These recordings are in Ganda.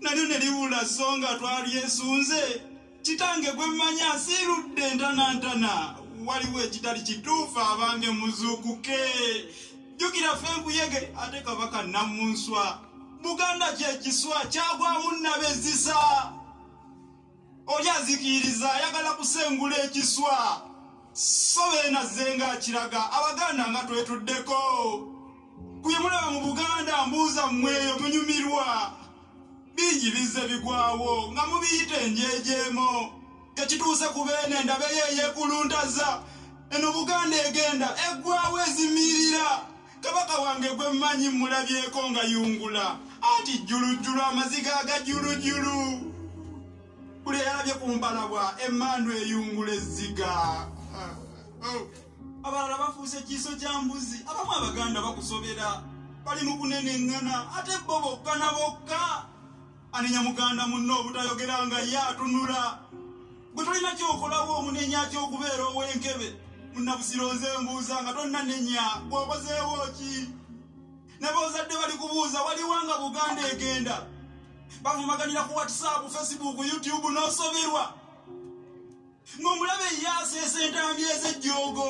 nalyo ne liwula so nga twalyesunze kitange gwe mmanyi asiirudde entanantana waliwo ekitali kituufu abange muzuukuke jjukira fe nkuyege ate kabaka namunswa buganda kyekiswa kyagwamu nnabezisa oli azikiriza ayagala kusengula ekiswa so benazze nga akiraga abaganda nga twetuddeko kuyemulaba mu buganda mbuuza mmweyo munyumirwa bingi bizze bigwawo nga mubiyita enjejeemo tekituuse ku beene endabeyo eyekuluntaza eno buganda egenda eggwawo ezimirira kabaka wange gwe mmanyi mmulabyeko nga yungula anti jjulujjulu amaziga agajjulujjulu buli eyalabye ku mbalabwa emmandu eyungula ezziga ah, oh. abalala bafuuse ekiiso kya mbuzi abamu abaganda bakusobera bali mu kuneneŋŋana ate bo bokka na bokka anenya muganda munne obutayogera nga ye atunula gwe tolina kyokolawo omunenya kyokubeera ow'enkebe munabusiro nze mbuuza nga tonnanenya gwokozeewo ki nabaozadde bali kubuuza waliwo nga buganda egenda bavumaganira ku whatsapp facebook youtube n'osoberwa ng'omulabe ye aseesa entambi ez'ejjoogo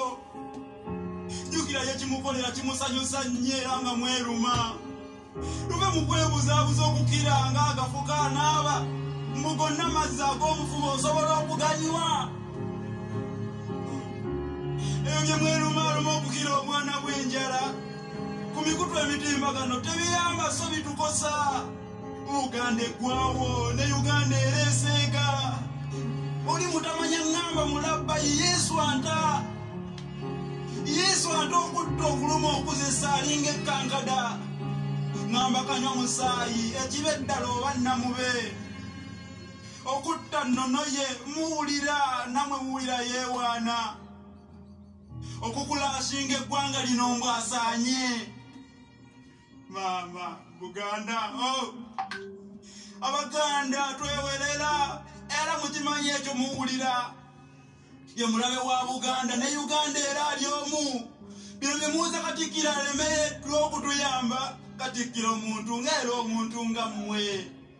jjukira ye kimukolera kimusanyusa nnyo era nga mweruma luve mu kwebuzaabuza okukira nga agafuka anaaba mbu gonna amazzi ag'omufuba osobola okuganyiwa ebyo bye mwerumaaluma okukira omwana bw'enjala ku mikutu emitimbagano tebiyamba so bitukosa uganda eggwawo ne uganda ereeseeka oli mutamanya ŋŋamba mulabba yesu anta yesu anta okutta okuluma okuzesa alinga ekkankada ŋŋamba kanywa musaayi ekiba eddala oba namube okutta nnono ye muwulira namwe muwulira yeewaana okukulasinga eggwanga lino mbwasaanye mama buganda oh. abaganda twewerera era mukimanyi ekyo muwulira ye mulabe wa buganda ne uganda era ali omu bino byemuuza katikkiro alemereddwa okutuyamba katikkiro omuntu ngaera omuntu nga mmwe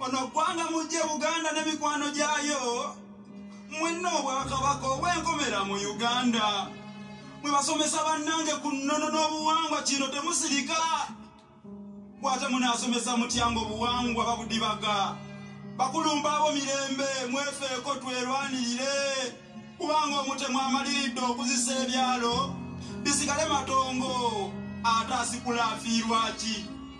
ono ggwanga mujje buganda ne mikwano gyayo mwenna obwakabaka obwenkomera mu uganda mwe basomesa bannange ku nnono n'obuwangwa kino temusirika bwate munaasomesa mutyango obuwangwa babudibaga bakulumba abo mirembe mwefeeko twerwanirire kubanga omutemu amaliridde okuzisa ebyalo bisigale matongo ate asikula afiirwaki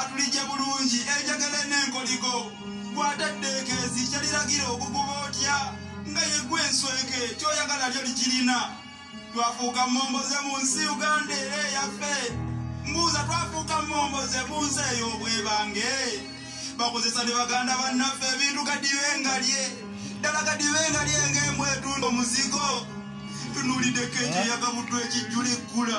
atulije bulungi enjagala n'enkoligo gw'atadde ekeezi kyaliragira okuguba otya nga yegwa ensweke kyoyagala lyo likirina twafuuka mmomboze mu nsi uganda era eyaffe mbuuza twafuuka mmomboze mu nsi eyo obwebange bakozesa ne baganda bannaffe ebintu gadibe nga lye ddala gadibe nga lye ng'emu etundo muzigo tunuulideko ekyo yagabuddwa ekijjula ekkula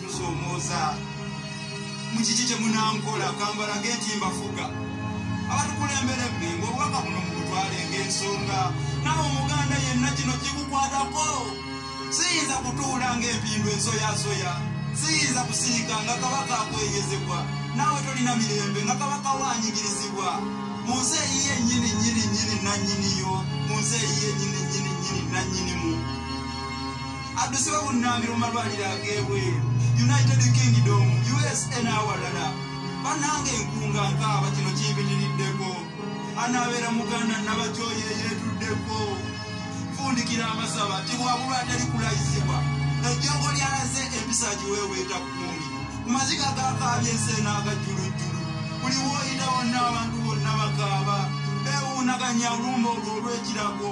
nsomooza mukiki kye munankola kambalage nti mbafuga abatukulembera ebbingo obubaka buno mubutwale ng'ensonga nawe omuganda yenna kino kikukwatako siyinza kutuula ng'empindu ensoyasoya siyinza kusiika nga kabaka akweyezebwa naawe tolina mirembe nga kabaka wanyigirizibwa mu nsi eyiye nyini nyini nyini nanyiniyo mu nsi eyiye nyini nyini nyini nanyinimu addusibwe bunnambiro mu malwaliro ag'ebweru united kingdom usa n'awalala bannanga enkunga nkaaba kino kimpitiriddeko anaabeera muganda nabakyoyo eyeetuddeko nfundikira amasaba tibwabulwa atali kulayizibwa ejjongo lyalaze empisa giweeweeta kukundi ku maziga gakaabya ensi enaagajjulujjulu buli wooyita wonna abantu bonna bakaaba beewuunaganya olumba olwo olw'ekirago